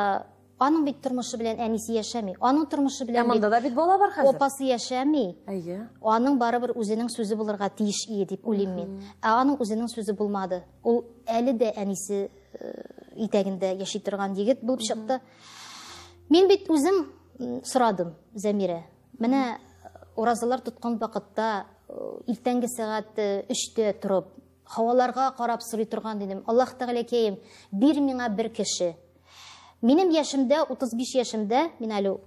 аның бит тормышы белән әнисе яшәми аның тормышы белән ә монда да бит бала бар хәзер апасы яшәми әйе аның барыбер үзенең сүзе булырга тиеш ие дип уйлыйм мин ә аның үзенең сүзе булмады Ул әле дә әнисе э, итәгендә яши торган егет булып чыкты. Мин бит үзем сорадым Зәмирә. Менә э, уразалар тоткан вакытта э, иртәнге сәгать 3-тә торып, һаваларга карап сорый торган идем. Аллаһ Тәгаләкәем, бир миңа бер кеше. Минем яшемдә, 35 яшемдә, мин әле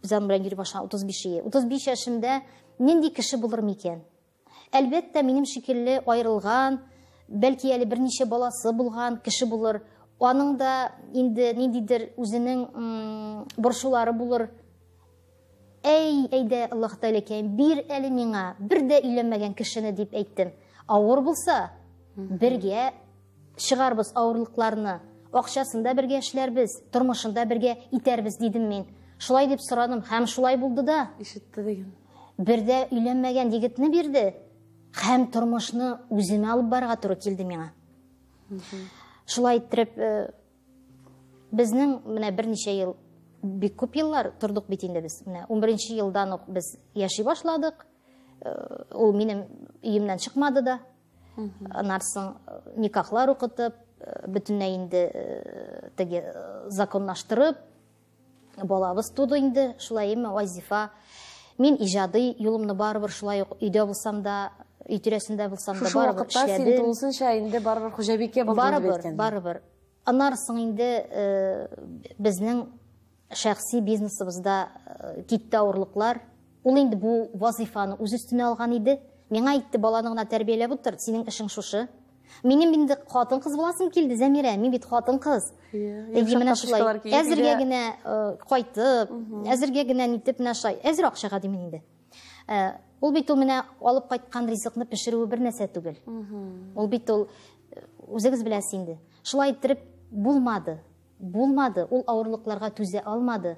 Зәмирә Юрьбашан 35 35 яшемдә нинди кеше булыр микән? Әлбәттә, минем шикелле аерылган, бәлки әле берничә баласы булган кеше булыр. Аның да инде ниндидер үзенең борчулары булыр. Әй, әйдә, Аллаһ Тәгаләкәем, бир әле миңа бер дә өйләнмәгән кешене дип әйттем. Авыр булса, бергә чыгарбыз авырлыкларны, акчасын да бергә эшләрбез, тормышын да бергә итәрбез дидем мин. Шулай дип сорадым һәм шулай булды да. Ишетте дигән. Бер дә өйләнмәгән егетне бирде һәм тормышны үземә алып барырга туры килде миңа. Шулай иттереп э, безнең менә берничә ел бик күп еллар тордык бит инде без. Менә 11 елдан ук без яши башладык. Э, ул минем өемнән чыкмады да. Анарсың э, никахлар укытып, э, бөтенләй инде теге законлаштырып, Балабыз туды инде, шулай имме, Айзифа? Мин иҗади юлымны барыбер шулай ук өйдә булсам да, өй тирәсендә булсам да барыбер эшләдем. Шушы син тулысынча инде барыбер хуҗабикә булдың дип әйткән. Барыбер, барыбер. Аннары соң инде э, безнең шәхси бизнесыбызда э, китте авырлыклар. Ул инде бу вазифаны үз өстенә алган иде. Миңа әйтте, баланы гына тәрбияләп утыр, синең эшең шушы. Минем инде хатын-кыз буласым килде, Зәмирә, мин бит хатын-кыз. Әйе, менә шулай. Әзергә генә кайтып, әзергә генә нитеп менә шулай. Әзер акчага димин инде. Ул бит ул менә алып кайткан ризыкны пешерүе бер нәрсә түгел. Ул бит ул үзегез беләсез инде. Шулай иттереп булмады. Булмады. Ул авырлыкларга түзә алмады.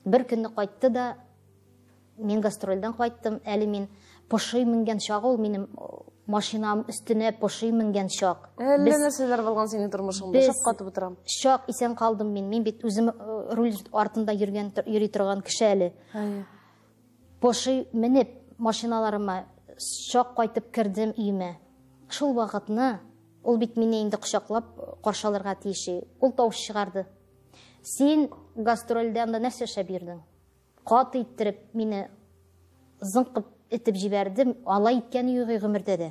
Бер көнне кайтты да Мин гастрольдән кайттым, әле мин поши менгән чак ул минем машинам өстенә поши менгән чак. Әллә нәрсәләр булган синең тормышыңда, шаккатып утырам. Чак исән калдым мин, мин бит үзем э, руль артында йөргән, йөри торган кеше әле. Поши менеп машиналарыма чак кайтып кердем өемә. Шул вакытны ул бит мине инде кочаклап каршы алырга тиеш. Ул тавыш чыгарды. Син гастрольдә анда нәрсә эшләп йөрдең? Каты иттереп мине зыңкып итеп җибәрде. Алай иткәне юк и гомердә дә.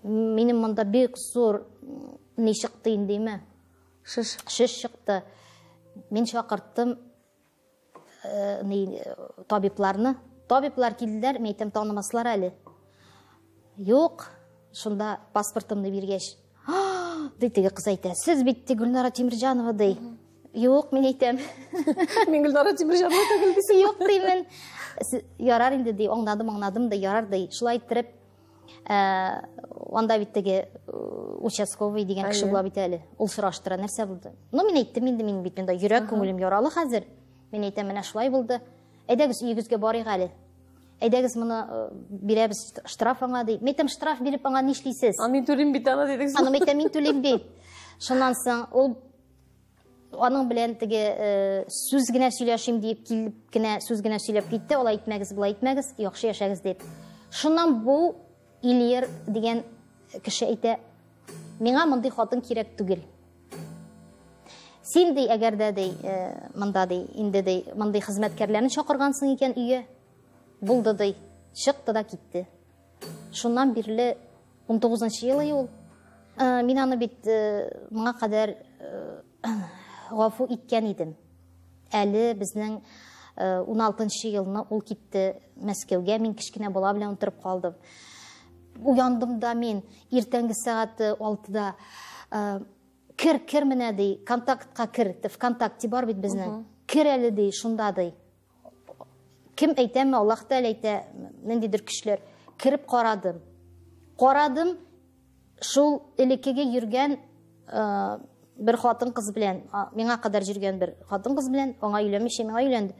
Минем монда бик зур ни чыкты индеме? Шеш. Шеш чыкты. Мин чакырттым э, ни табибларны. Табиблар килделәр, мин әйтәм танымаслар әле. Юк, шунда паспортымны биргәч, ди теге кыз әйтә, сез бит ди Гөлнара Тимирҗанова ди. Юк, мин әйтәм. Мин Гөлнара Тимирҗанова түгел дисең. Юк димен. Ярар инде ди, аңладым, аңладым да ярар ди. Шулай иттереп, э, анда бит теге э, участковый дигән кеше була бит әле. Ул сораштыра, нәрсә булды? Ну, мин әйттем инде, мин бит монда йөрәк күңелем яралы хәзер. Мин әйтәм, менә шулай булды. Әйдәгез, өегезгә барыйк әле. Әйдәгез моны бирәбез штраф аңа ди. Мәйтәм штраф биреп аңа нишлисез? А мин түлим бит аны дидегез. Аны мәйтәм мин түлим бит. Шуннан соң ул аның белән теге э, сүз генә сөйләшим диеп килеп кенә сүз генә сөйләп китте алай итмәгез болай итмәгез яхшы яшәгез дип шуннан бу Ильер дигән кеше әйтә, миңа мондый хатын кирәк түгел. Син ди, әгәр дә ди, э, монда ди, инде ди, мондый хезмәткәрләрне чакыргансың икән өйгә, булды ди, чыкты да китте. Шуннан бирле 19 нчы елы ул. Э, мин аны бит э, моңа кадәр Гафу иткән идем. Әле безнең 16 э, елны ул китте Мәскәүгә, мин кечкенә бала белән утырып калдым. Уяндым да мин иртәнге сәгать 6-да э, кер, кер менә ди, контактка кер, ВКонтакте бар бит безнең. Кер әле ди, шунда ди. Кем әйтәме, Аллаһ Тәгалә әйтә, ниндидер көчләр. Кереп карадым. Карадым, шул элеккеге йөргән э, бер хатын кыз белән, миңа кадәр йөргән бер хатын кыз белән, аңа өйләнмичә миңа өйләнде.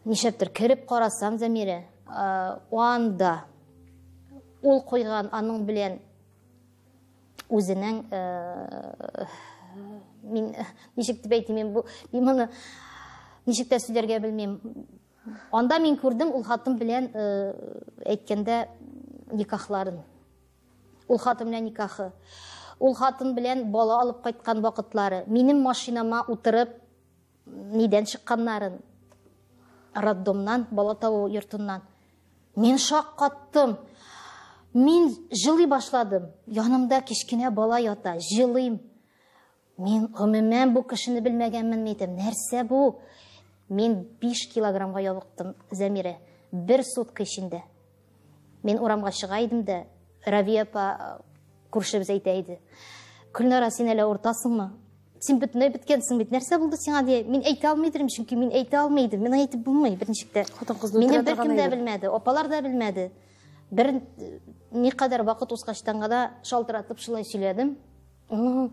Нишәптер кереп карасам Замирә, э, анда ул куйган аның белән үзенең э, мин ничек дип әйтим мин бу мин моны ничек тә сөйләргә белмим анда мин күрдем ул хатын белән э, әйткәндә никахларын ул хатын белән никахы ул хатын белән бала алып кайткан вакытлары минем машинама утырып нидән чыкканнарын роддомнан бала табу йортыннан Мин шаккаттым. Мин җылый башладым. Янымда кечкенә бала ята, җылыйм. Мин гомумән бу кешене белмәгәнмен мидем. Нәрсә бу? Мин 5 килограммга ябыктым, Зәмирә. Бер сутка эчендә. Мин урамга чыга идем дә, Равия апа күршебез әйтә иде. Көлнара, син әле уртасыңмы? Син бөтенләй беткәнсең бит. Нәрсә булды сиңа дия? Мин әйтә алмый идем, чөнки мин әйтә алмый идем. Мин әйтеп булмый беренче дә. Хатын-кызны Мине беркем дә белмәде, апалар да белмәде. Бер ни кадәр вакыт узгачтан гына шалтыратып шулай сөйләдем. Ну,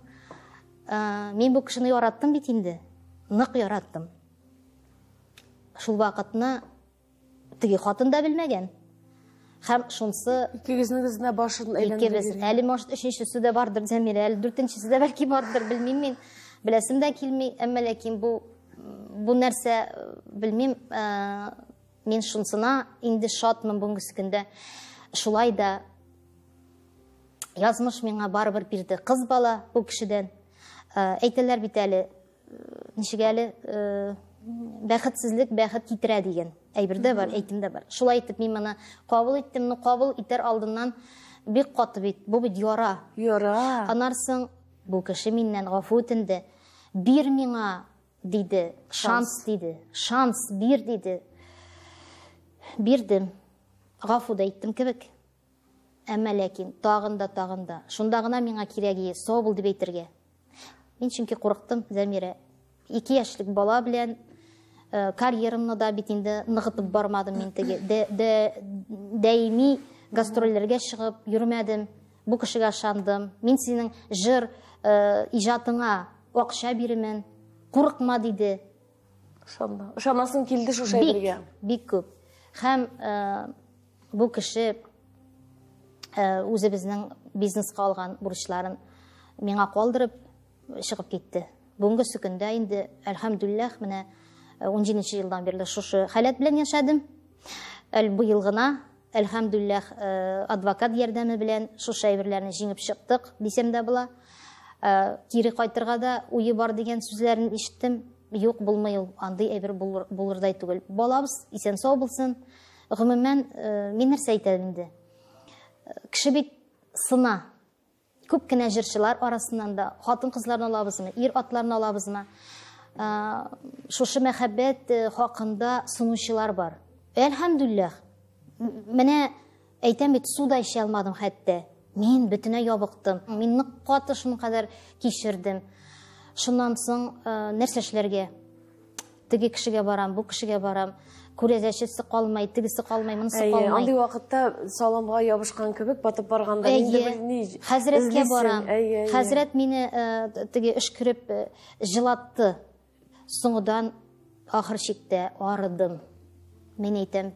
э, мин бу кешене яраттым бит инде. Нык яраттым. Шул вакытны Теге хатын да белмәгән. Һәм шунсы... Икегезнегез генә башын әйләндереп Икебез. йөргән. Әле, может, өченчесе дә бардыр, Зәмирә, әле дүртенчесе дә бәлки бардыр, белмим мин. Беләсем дә килми, әмма ләкин бу бу нәрсә, э, белмим, э, мин шунсына инде шатмын бүгенге көндә. Шулай да язмыш миңа барыбер бирде. Кыз бала бу кешедән. Э, Әйтәләр бит әле, Ничек әле бәхетсезлек бәхет китерә дигән әйбер дә бар, әйтем дә бар. Шулай итеп мин моны кабул иттем, но кабул итәр алдыннан бик каты бит, бу бит яра. Яра. Анарсың, бу кеше миннән гафу үтенде. Бир миңа, диде, шанс диде. Шанс бир диде. Бирдем. Гафу да иттем кебек. Әмма ләкин, тагын да, тагын да. Шунда гына миңа кирәге сау бул дип әйтергә. Мин чөнки курыктым, Зәмирә. Ике яшьлек бала белән э, карьерамны да бит инде ныгытып бармадым мин теге. Даими гастрольләргә чыгып йөрмәдем. Бу кешегә ышандым. Мин синең җыр э, иҗатыңа акча бирмен. Курыкма диде. Ышанма. Ышанасың килде шушы әйбергә. Бик, бик күп. Һәм э, Бу кеше үзебезнең бизнеска алган бурычларын миңа калдырып чыгып китте. Бүгенге сөкендә инде, әлхәмдүлләх, менә 17 елдан бирле шушы халәт белән яшәдем. Әл быел гына, әлхәмдүлләх, адвокат ярдәме белән шушы әйберләрне җиңеп чыктык, дисәм дә була. Кире кайтырга да уе бар дигән сүзләрен ишеттем. Юк, булмый ул, андый әйбер булырдай түгел. Балабыз исән-сау булсын. Гомумән, э, мин нәрсә әйтәм инде? Э, кеше бит сына. Күп кенә җырчылар арасыннан да хатын-кызларны алабызмы, ир атларны алабызмы? Э, шушы мәхәббәт хакында сынучылар бар. Әлхәмдүлләх. Менә әйтәм бит, суда эчә алмадым хәтта. Мин бөтенә ябыктым. Мин нык каты шуның кадәр кичердем. Шуннан соң нәрсә эшләргә? теге кешегә барам, бу кешегә барам, күрәзәчесе калмай, тегесе калмай, монысы калмай. Андый вакытта саламга ябышкан кебек батып барганда инде белми. Хәзрәткә барам. Хәзрәт мине э, теге өшкереп э, җылатты. Соңыдан ахыр чиктә арыдым. Мин әйтәм,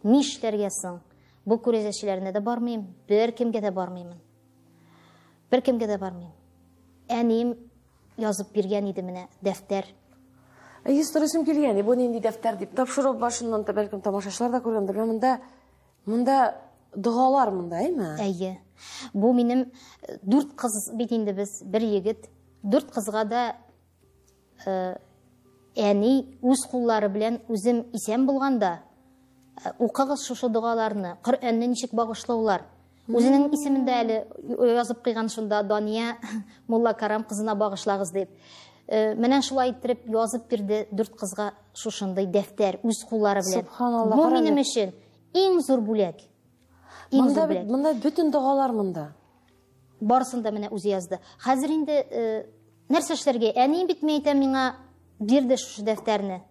нишләргә соң? Бу күрәзәчеләренә дә бармыйм, бер кемгә дә бармыймын. Бер кемгә дә бармыйм. Әнием Язып биргән иде менә дәфтәр. Әйе, сторисым килгән, и бу нинди дәфтәр дип. Тапшыру башыннан да бәлкем тамашачылар да күргәндер. Менә монда монда догалар монда, әйме? Әйе. Бу минем э, дүрт кыз бит инде без, бер егет. Дүрт кызга да э, әни үз куллары белән үзем исән булганда э, укыгыз шушы догаларны, Коръәнне ничек багышлаулар. Үзенең исемендә әле язып кыйган шунда Дания Мулла Карам кызына багышлагыз дип. Э, менә шулай иттереп язып бирде дүрт кызга шушындый дәфтәр үз куллары белән. Субханалла. Бу минем өчен иң зур бүләк. Иң зур бүләк. Монда бөтен догалар монда. Барсын да менә үзе язды. Хәзер инде э, нәрсә эшләргә? Әни бит мәйтә миңа бирде шушы дәфтәрне.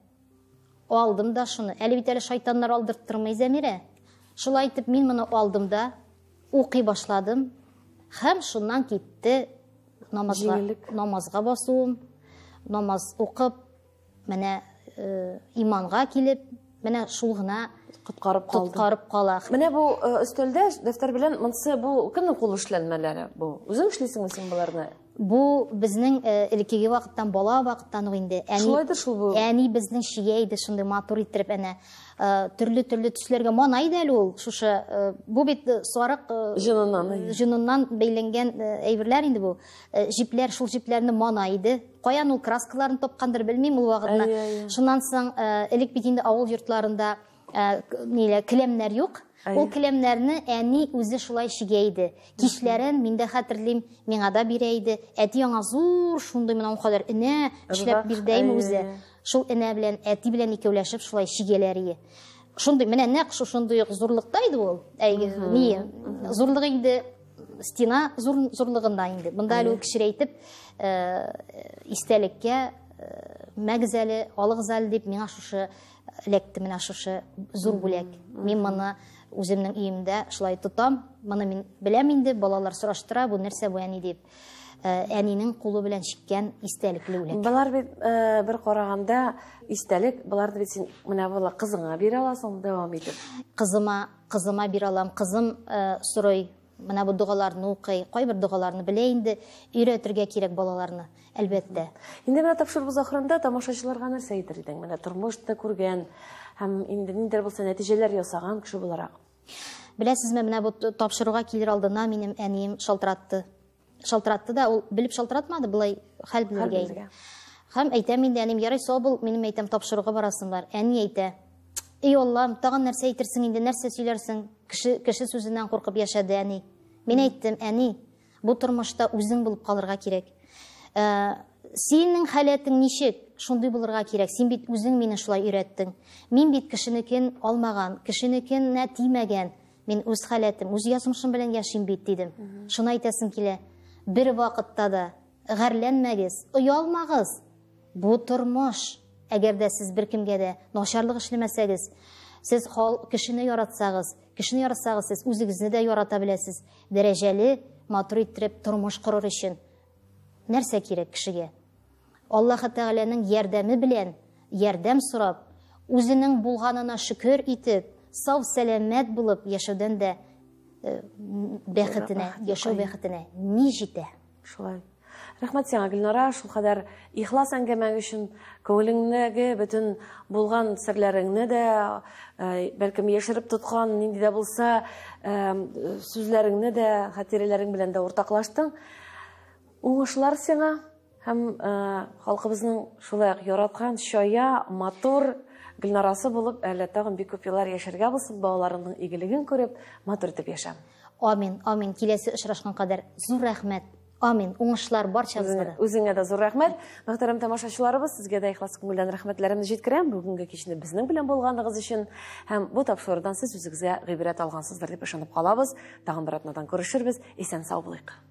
Алдым да шуны. Әле бит әле шайтаннар алдырттырмый Зәмирә. Шулай итеп мин моны алдым да укый башладым. Хәм шуннан китте намазга, намазга басуым, намаз укып, менә э, иманга килеп, менә шул гына коткарып калды. Коткарып кала. Менә бу э, өстәлдә дәфтәр белән монсы бу кемнең кул эшләнмәләре бу? Үзең эшлисеңме син боларны? Бу безнең э, элеккеге вакыттан, бала вакыттан ук инде. Әни, Шулай да шул бу. Әни безнең чия иде шундый матур иттереп әнә э, төрле төрле төсләргә мана иде әле ул шушы э, бу бит сарык җыныннан җыныннан бәйләнгән әйберләр инде бу. Җипләр шул җипләрне мана иде. Каян ул краскаларын тапкандыр белмим ул вакытта. Шуннан соң элек бит инде авыл йортларында Ә, нилә, келәмнәр юк. Ул келәмнәрне әни үзе шулай чигә иде. Кичләрен мин дә хәтерлим, миңа да бирә иде. Әти аңа зур шундый менә ул кадәр энә эшләп бирдәйме үзе. Шул энә белән әти белән икәүләшеп шулай чигәләр иде. Шундый менә нәкъ шушындый ук зурлыкта иде ул. Әй, ни, зурлыгы инде стена зур зурлыгында инде. Монда әле кечерәйтеп э, истәлеккә э, мәгзәле, алыгзәл дип миңа шушы эләкте менә шушы зур бүләк. Мин моны үземнең өемдә шулай тотам. Моны мин беләм инде, балалар сораштыра, бу нәрсә бу әни дип. Э, әнинең кулы белән чиккән истәлекле үләк. Болар бит э, бер караганда истәлек, боларны бит син менә була кызыңа бирә аласың дәвам итеп. Кызыма, кызыма бирә алам. Кызым э, сорый, Менә бу догаларны укый. Кайбер догаларны белә инде. Өйрәтергә кирәк балаларны, әлбәттә. Инде менә тапшыруыбыз ахырында тамашачыларга нәрсә әйтер идең? Менә тормышны күргән һәм инде ниндидер булса нәтиҗәләр ясаган кеше буларак. Беләсезме, менә бу тапшыруга килер алдына минем әнием шалтыратты. Шалтыратты да, ул белеп шалтыратмады, былай хәл белергә инде. Хәм әйтәм инде, әнем, ярай, сау бул, минем әйтәм, тапшыруга барасың бар. Әни әйтә, эй Аллам, тагын нәрсә әйтерсең инде, нәрсә сөйләрсең? Кеше, кеше сүзеннән куркып яшәде әни. Мин әйттем, әни, бу тормышта үзең булып калырга кирәк. Ә, синең халәтең ничек? Шундый булырга кирәк. Син бит үзең мине шулай өйрәттең. Мин бит кешенекен алмаган, кешенекенә тимәгән. Мин үз халәтем, үз язмышым белән яшим бит, дидем. Шуны әйтәсем килә. Бер вакытта да гарләнмәгез, оялмагыз. Бу тормыш. Әгәр дә сез беркемгә дә начарлык эшләмәсәгез, сез кешене яратсагыз, кешене яратсагыз, сез үзегезне дә ярата беләсез. Дәрәҗәле, матур иттереп тормыш корыр өчен нәрсә кирәк кешегә? Аллаһы Тәгаләнең ярдәме белән, ярдәм сорап, үзенең булганына шөкер итеп, сау-сәламәт булып яшәүдән дә бәхетенә, яшәү бәхетенә ни җитә? Шулай. Рәхмәт сиңа, Гөлнара, шул кадәр ихлас әңгәмәң өчен, күңелеңдәге бөтен булган серләреңне дә, э, бәлкем яшереп тоткан нинди дә булса, э, сүзләреңне дә, хатирәләрең белән дә уртаклаштың. Уңышлар сиңа һәм э, халкыбызның шулай ук яраткан чая, матур гөлнарасы булып әле тагын бик күп еллар яшәргә булсын, балаларыңның игелеген күреп, матур итеп яшә. Амин, амин. Киләсе очрашкан кадәр зур рәхмәт. Амин. Уңышлар барчабызга да. Үзеңә дә зур рәхмәт. Мөхтәрәм тамашачыларыбыз, сезгә дә ихлас күңелдән рәхмәтләремне җиткерәм. Бүгенге кичне безнең белән булганыгыз өчен һәм бу тапшырудан сез үзегезгә гыйбрәт алгансыздыр дип ышанып калабыз. Тагын бер атнадан күрешербез. Исән сау булыйк.